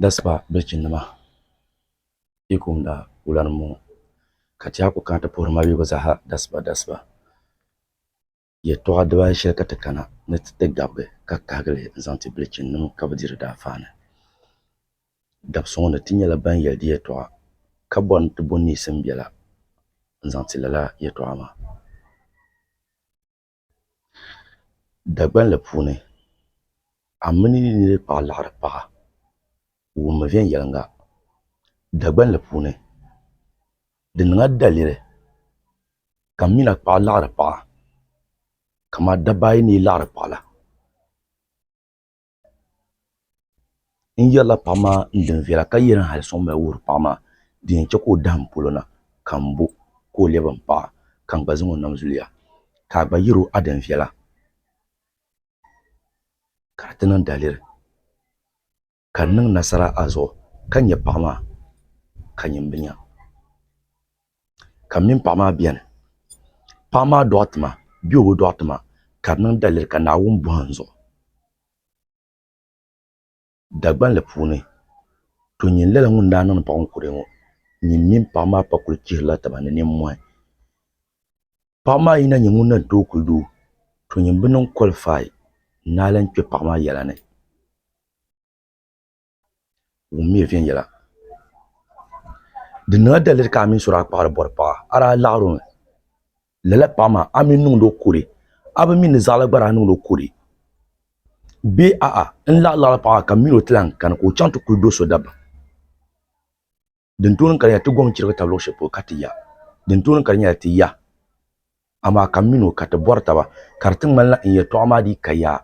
Dasipa bilichinnima yi kumda wula ni n bɔŋɔ ka ti yaa ku kana ti puhiri maligu zaaha dasipa dasipa yɛltɔɣa dibaayi shɛli ka ti kana ni ti ti gabigi ka kahigili n zaŋ ti bilichinnima ka bi di di daafaani dabisi ŋɔ ni ti nyɛla ban yɛli di yɛltɔɣa ka bɔri ni ti bo niisim biɛla n zaŋ ti lala yɛltɔɣa maa Dagban li puuni a mini yi niriba paɣi laɣiri paɣa wummi viɛnyɛliŋa Dagban li puuni di niŋla daliri ka m mina paɣi laɣiri paɣa ka ma dabba ayi ni yi laɣiri paɣi la n yɛrila paɣa maa n di n viɛla ka yɛli hali suŋ mali wuhuri paɣa maa di yɛn chɛ ka o dahin polo na ka n bo ka o lɛbi n paɣa ka n gba zaŋ o nam zuliya ka a gba yɛr o adin viɛla ka a ti niŋ daliri ka n niŋ nasara a zuɣu ka nyɛ paɣa maa ka nyin bi nya ka m mini paɣa maa beni. Paɣa maa dɔɣiti ma bee o bi dɔɣiti ma ka di niŋ daliri ka Naawuni bɔhi n zuɣu. Dagbanli puuni, to nyin lala ŋun daa niŋdi paɣa ŋɔ kurili ŋɔ, nyin mini paɣa maa pa kuli chihirila taba ni nimmɔhi. Paɣa maa yi na nyɛ ŋun na tooi kuli doo, to nyin bi niŋ qualify n-naai lan kpe paɣa maa yɛla ni. wummiya viɛnyɛla. Di niŋla daliri ka a mini sura kpaɣiri bɔri paɣa, a daa laɣirimi. Lala paɣa maa, a mi n-niŋdi o kuli, a bi mi ni zaɣila gba daa niŋdi o kuli? Bee a'a, n laɣiri laɣiri paɣa maa ka m mi o ti lahi kani ka o chaŋ ti kuli do so dabam? din tooni ka di nyɛla ti gom chirigi tabi luɣu shɛli polo ka ti ya din tooni ka di nyɛla ti ya amaa ka m mini o ka ti bɔri taba ka di ti ŋmanila n yɛtɔɣa maa dii ka yaa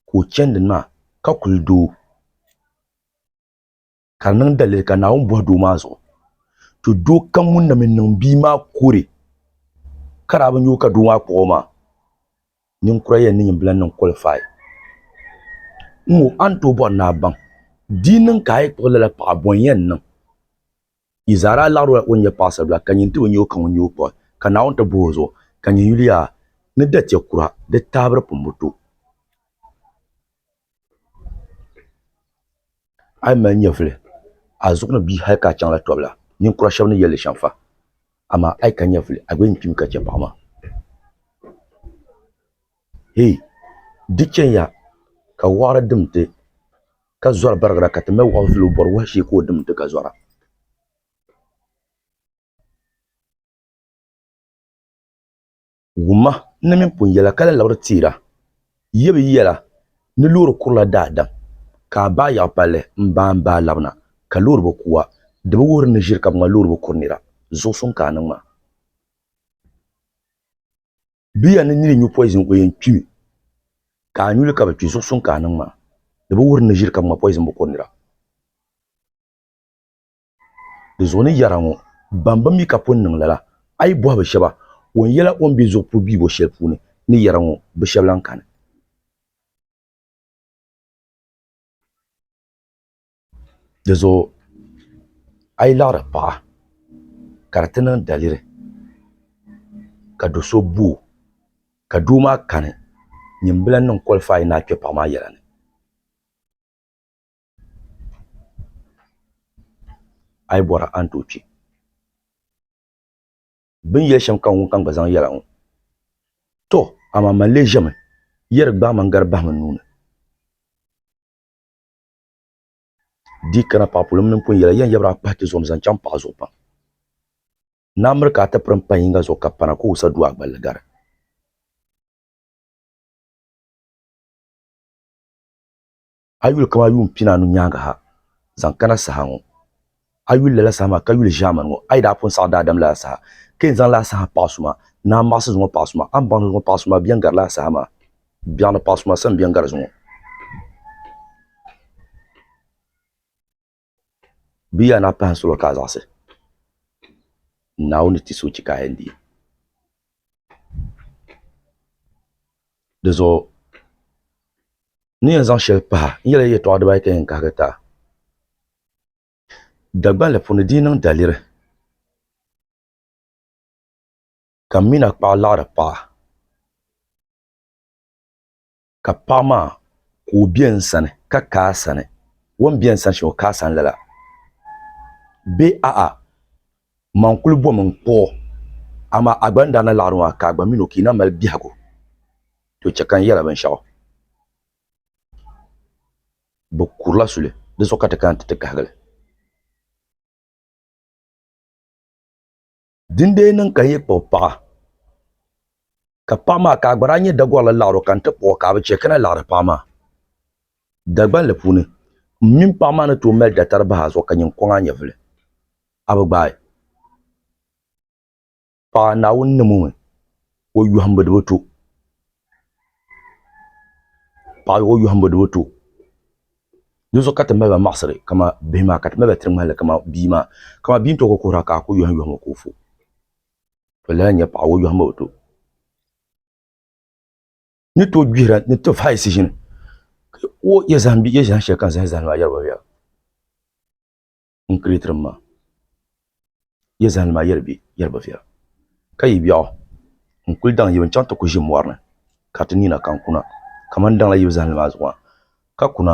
ka o chani din maa ka kuli doo ka di niŋ dalili ka Naawuni bɔhi doo maa zuɣu to doo kam ŋun na mi niŋ bia maa kuri ka daa bi nya o ka doo maa kpuɣ o maa Ninkura yɛn ni nyin bila niŋ qualify ŋɔ a ni tooi bɔri ni a baŋ di yi niŋ ka a yi kpuɣi lala paɣa bɔ n yɛn niŋ? Yi zaa daa laɣirila o ni nyɛ paɣisaribila ka nyin ti o nyɛ o ka ŋun nyɛ o kpuɣi ka Naawuni ti bohi o zuɣu ka nyin yuliya ni dachɛ kura di taabiri pumbu to. A yi mali nyɛvili, a zuɣu ni bi yi hal ka a chaŋla tɔbu la, ninkura shɛba ni yɛli li shɛm fa. Amaa a yi ka nyɛvili, a gba yɛn kpimi ka chɛ paɣ maa. Hɛ! Di chɛya ka wɔɣiri dim ti, ka zɔri barigira, ka ti mali wɔɣ vili o bɔri wahu shee ka o dim ti ka zɔra. wumma ni mini pun yɛla ka lahi labiri teera ya bɛ yɛla ni loori kurila daadam ka a baai yaɣi palli m-baa m-baa labina ka loori bi ku a, di bi wuhiri ni ʒiri ka bɛ ŋma loori bi kuri nira, zuɣu suŋ ka a niŋ maa. Bɛ ya ni niri nyu poizin o yɛn kpimi ka a nyu li ka bi kpi, zuɣu suŋ ka a niŋ maa, di bi wuhiri ni ʒiri ka bɛ ŋma poizin bi kuri nira. Di zuɣu ni yɛra ŋɔ, Ban bi mi ka pun niŋ lala, a yi bɔhi bɛ shɛba, O ni yɛla o ni be zuɣupuli biibo shɛli puuni ni yɛra ŋɔ, bɛ shɛba lan kani. Di zuɣu a yi laɣiri paɣa ka di ti niŋ daliri ka do so bo o, ka doo maa kani, nyin bi lan niŋ kɔlifayi ni a kpe paɣa maa yɛla ni. a yi bɔra a ni tooi kpi bɛ ni yɛli shɛm ka ŋunkam gba zaŋ yɛla ŋɔ tɔ amaa mani lee ʒɛmi yɛri gbaai ma n-gari bahim n nuu ni di yi kana paɣipuɣili mini m pun yɛli a yɛn yabira a kpahi ti zuɣu ni zaŋ chaŋ paɣa zuɣu pam ni a miri ka a ti piri m-pahi yiŋga zuɣu ka pana ka o sa du a gballi gari. A yi yuli kamani yuun pinaanu nyaŋga ha zaŋ kana saha ŋɔ, a yuli lala saha maa ka yuli ʒiɛmani ŋɔ, a yi daa pun saɣi daadam lala saha, ka yɛn zaŋ lala saha paɣisuma ni a maɣisi zuŋɔ paɣisuma, a ni baŋ ni zuŋɔ paɣisuma bɛn gari lala saha maa biɛɣu ni paɣisuma sani bɛn gari zuŋɔ. Bia na pahi solo ka a zaɣisi, Naawuni ni ti so chi ka a yɛn deei. Di zuɣu n ni yɛn zaŋ shɛli pahi, n yɛli a yɛtɔɣ dibaayi ka yɛn kahigi ti a, Dagbanli puuni di yi niŋ daliri, ka m min a kpaɣa laɣiri paɣa, ka paɣa maa ka o bɛ n sani ka ka a sani o ni bɛ n sani shɛm o ka a sani lala bee a'a man kuli bom n kpuɣi o amaa a gba ni daa na laɣiri maa ka a gba mini o ka yi na mali biɛhigu to chɛ ka n yɛli a binshɛɣu bɛ kurila suli di zuɣu ka ti kana nti ti kahigi li. din dee niŋ ka n yi kpuɣi paɣa ka paɣa maa ka a gba daa nyɛ Dagorili laɣaro ka n ti kpuɣi ka a bi chɛ ka na laɣari paɣa maa Dagbanli puuni, m mini paɣa maa ni tooi mali datari bahi a zuɣu ka nyin kɔŋ a nyɛvili. A bi gbaai paɣa Naawuni ni mo mi o yɔhimbu di bi to. paɣa ni o yɔhimbu ni o ti o dinzuɣu ka ti mali ba maɣisiri kamani bihi maa ka ti mali ba tiri ŋmani li kamani bia maa kamani bia n-ti o ka o kuhira ka a kuli yɔhim yɔhimbu ka o fu o lala n-nyɛ paɣa o yɔhimbu bi ti o ni tooi gbihira ni tof hali siʒini ka o ya zahim bia ya zahim shɛli ka n zahi zahim maa yɛri ba bɛ ya n kiriitirim maa, yi zahindi maa yɛli bi viɛla, ka yi biɛɣu n kuli daŋ yibu n chaŋ ti ku ʒi mɔri ni ka ti nina kan kuna kamani daŋla yibu zahindi maa zuɣu maa, ka kuna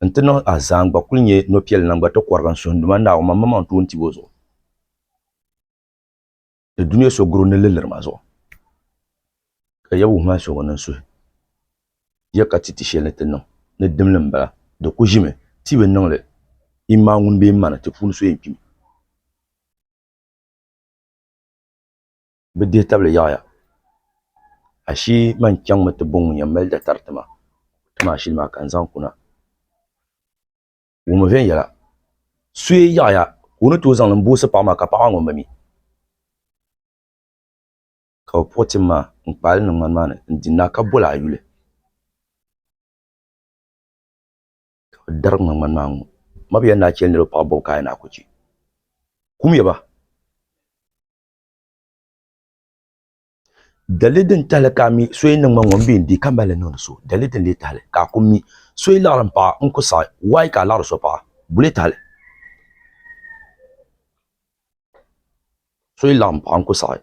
n ti niŋ azaan gba kuli nyɛ nɔpiɛlli na n gba ti kɔrigi n suhinduma Naawuni Mammaŋ tuun tibu zuɣu. ni dunia so guri ni liliri ma zuɣu ka ya wuhi ma so ŋɔ niŋ suhi ya ka ti ti shɛli ni ti niŋ ni dimli m-bala di ku ʒimi ti bi niŋ li imaa ŋun bee ma ni ti puuni so yɛn kpimi bɛ dihi tabili yaɣiya ashii man chaŋmi ti bo ŋun yɛn mali datari ti ma ti ma ashili maa ka n zaŋ kuna wummi viɛnyɛla, suye yaɣiya ka o ni tooi zaŋ li m-boosi paɣa maa ka paɣa maa ŋun mi ka bɛ puɣi tim maa n-kpaai li niŋ ŋmani maa ni n-di naa ka boli a yuli ka bɛ darigi ŋa ŋmani maa ŋ-ŋɔ. M ma bɛ yɛli ni a chɛ li niriba paɣibu bɔbu ka a yɛn a ku chɛ? Kumya ba! Dali din tahali ka a mi so yi niŋma ŋun bee n-dii ka mali li niŋdi so. Dali din lee tahali ka a ku mi so yi laɣiri m-paɣa n ku saɣi. Why ka a laɣiri so paɣa? Bulee tahali. So yi laɣim paɣa n-ku saɣi,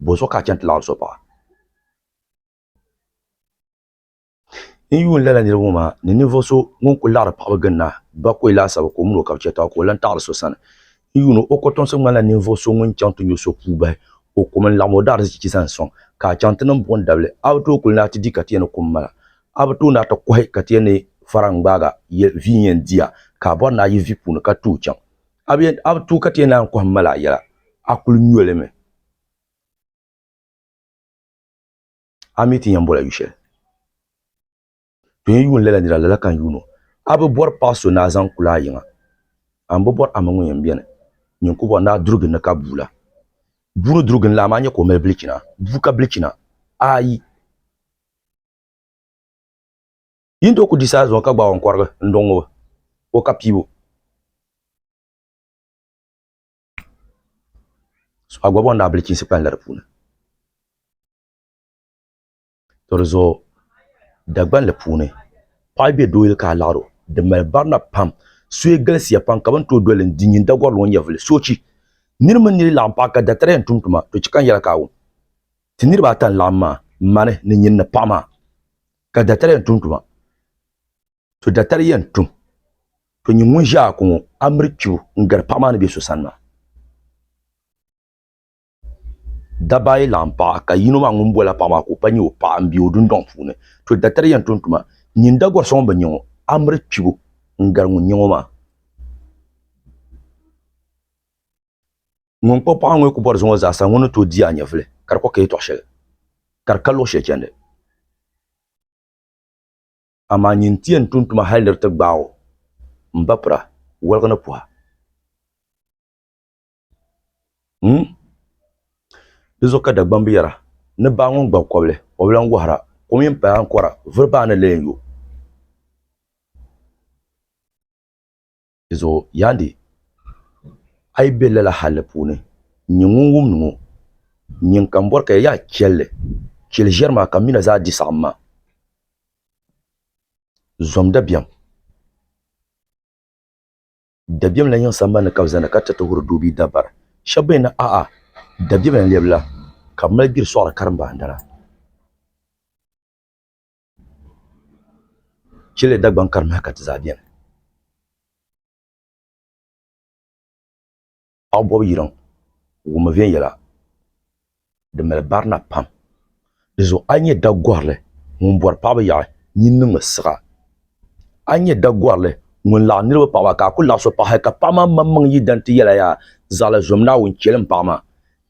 bɔzuɣu ka a chani ti laɣiri so paɣa? N ni yuun lala niriba ŋɔ maa ni ninvuɣ so ŋun kul laɣiri paɣiba ginda bakɔi laasabu ka o min o ka bɛ chɛ taba ka o lan taɣiri so sani. N yuun o kɔtomsi ŋmanila ninvuɣ so ŋun chaŋ ti nyo so puu bahi o kum n-laɣim o daarizichi zani sɔŋ, ka a chaŋ ti niŋ buɣim dabili. A bi tooi kul naai ti di ka ti yɛn ni kum mala. A bi tooi naai ti kɔhi ka ti yɛn ni fara n-gbaagi ya vi n-yɛn di ya, ka a bɔri ni a yi vi puuni ka tooi chaŋ. A bi yɛn, a bi tooi ka ti yɛn naai n-kɔhi m-mali a yɛla, a kul nyo li mi. a mi ti yɛn bɔla yu shɛli. To yɛn yuun lala nira lala ka n yuun o. A bi bɔri paɣ so ni a zaŋ kul a yiŋa? A ni bi bɔri a mini ŋun yɛn beni nyin ku bɔri ni a durigi n ni ka bua la? Bua ni durigi n la, amaa nyɛ ka o mali bilichina. Bua ka bilichina? Aayi! Yin tooi ku di saha zuŋɔ ka gbaag o n-kɔrigi n-dɔŋ o o ka piibu. a gɔbɔŋ daa bilichiisi kpanila di puuni to di zuɣu Dagbanli puuni paɣa be dooyili ka a laɣiri o di mali barina pam soya galisiya pam ka bɛ ni tooi doli li din nyini Dagɔri ŋɔ n-nyɛ vuli soochi niri mini niri laɣim paɣa ka datariya yɛn tum tuma di chɛ ka n yɛli ka a wum ti niriba ata n-laɣim maa mani ni nyini ni paɣa maa ka datariya yɛn tum tuma to datari yɛn tum to nyin ŋun ʒe a ko ŋɔ a miri kpibu n-gari paɣa maa ni be so sani maa. Dabba ayi laɣim paɣa ka yino maa ŋun boli la paɣa maa ka o pa nyɛ o paɣa m-be o dundɔŋ puuni. To datari yɛn tum tuma nyin da gɔri so ŋun bi nya ŋɔ a miri kpibu n-gari ŋun nya ŋɔ maa. Ŋun kpuɣi paɣa ŋɔ yi ku bɔri zuŋɔ zaasa ŋɔ ni tooi di a nyɛvili ka di kɔh ka yɛtɔɣ shɛli ka di ka luɣ shɛli chandi. amaa nyin nti yɛn tum tuma hal di di ti gbaag o m ba pira woligi ni puha. Humm! Di zuɣu ka Dagbamb yɛra ni baa ŋun gbab kɔbili, o bi lan wɔhira, kom yɛn paya ankɔra, vuri baa ni lee yo. Dizuɣu Yandi, a yi be lala hali puuni, n-nyɛ ŋun wumdi ŋɔ, nyin ka m bɔri ka ya yaa chɛlli, chɛli ʒiɛri maa ka m mina zaa di saɣim maa. Zom dabiɛm. Dabiɛm lan yiŋ sambani ni ka bɛ zani ka tiriti huri doo bee dabara. Shɛb bɛn ni a'a, dabiɛm lan lɛbi la, ka bɛ mali gbiri sɔɣiri karimbaandana. Chile Dagbaŋ ka di nahi ka ti zaa beni. Aɣubɔb yiliŋ wummi viɛnyɛla din mali barina pam. Di zuɣu a ni nyɛ Dagɔrili ŋun bɔri paɣiba yaɣi nyin niŋmi siɣa. A ni nyɛ Dagɔrili ŋun laɣim niriba paɣiba ka a ku laɣis o paɣa hali ka paɣimaŋmaŋmaŋ yi dan ti yɛli a yaa, Zaɣila zom Naawuni chɛlim paɣima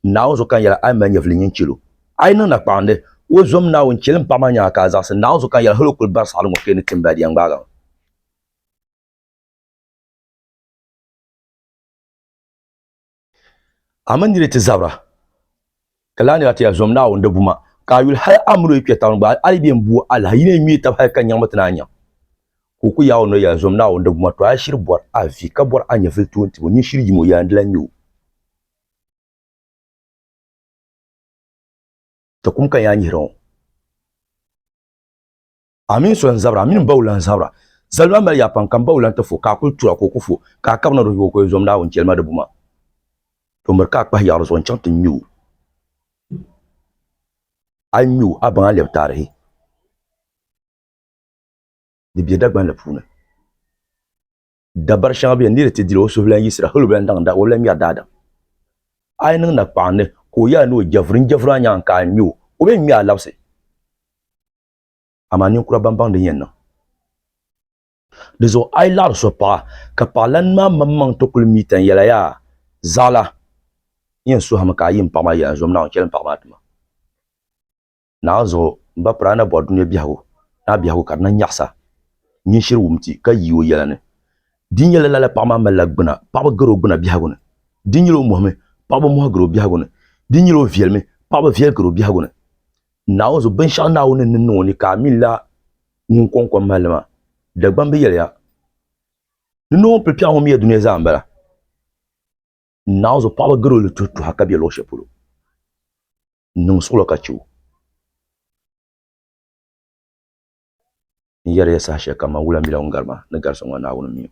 Naawuni zuɣu ka n yɛli, a yi mali nyɛvili nyin chɛl o. A yi niŋ nakpaɣindi, o zom Naawuni chɛli m paɣ maa nyaaŋa ka a zaɣisi Naawuni zuɣu ka n yɛli hal o kul bari saɣili ŋɔ ka yi ni tim ba a di yɛn ŋmaag a mi. A mi nir yi ti zabira, ka lahi nira ti yɛli, Zom Naawuni di buma, ka a yuli hal a mini o yi kpe tauni gba, a yi bɛn bu o alahi, yi ni yɛn ŋme tab hal ka nyaŋmi ti ni a nyaŋ. Ka o kul yaag o noli yɛli, Zom Naawuni di buma, tɔh a shiri bɔr a vi, ka bɔr a nyɛvili toon tib o, nyin shiri yim o, yɛla n di la n-nya o. Ti kum ka yaa nyihira ŋɔ. A mini so n-zabira, a mini bawula n-zabira. Zali maa mali yaa pam ka m bawula nti fo, ka a kul tura ka o ku fo, ka a kabina di zuɣu ka o yɛn zom Naawuni jɛlima di buma. To miri ka a kpahi yaɣiri zuɣu n-chaŋ ti ŋme o. A yi ŋme o, a baŋ a lɛbi taarihi ni bɛ Dagbanli puuni. dabari shɛŋa bɛni niri ti dili o suhulan yisira hali o bɛn daŋ da o bɛla ŋmɛri daadam a yi niŋ na kpaɣindi ka o yɛla ni o jɛvuri n jɛvuri a nyaŋ ka a ŋmɛ o o bɛn ŋmɛ a labisi amaa ninkura ban baŋ din yɛn niŋ di zuɣu a yi laɣiri so paɣa ka paɣalan maa maŋmaŋ ti kuli mi tani yɛla yaa zaɣila n yɛn suhimi ka a yi n paɣa maa yɛla zom naawuni chɛli n paɣa maa tuma Naanzuɣu, m ba piri a ni bɔri dunia biɛhigu ni a biɛhigu ka di na nyaɣisa nyin shiri wum ti, ka yi o yɛla ni. Di nyɛla lala paɣ maa malila gbuna, paɣiba gari o gbuna biɛhigu ni. Di nyɛla o mɔhimi, paɣiba mɔhi gari o biɛhigu ni. Di nyɛla o viɛlimi, paɣiba viɛli gari o biɛhigu ni. Naawunzu, binshɛɣu Naawuni ni niŋ o ni ka a min la ŋun kɔŋ kom mahili maa, Dagbamb yɛliya, Ni ni o ni pili piɛɣu ŋɔ mi ya dunia zaa m-bala. Naawuzu paɣaba garo li tuhi tuha ka bɛ luɣu shɛli polo n niŋ suɣulo ka chɛ o n yɛri ya saha shɛli kam man wula mila ŋun gari ma ni gari so ŋɔ Naawuni mi o.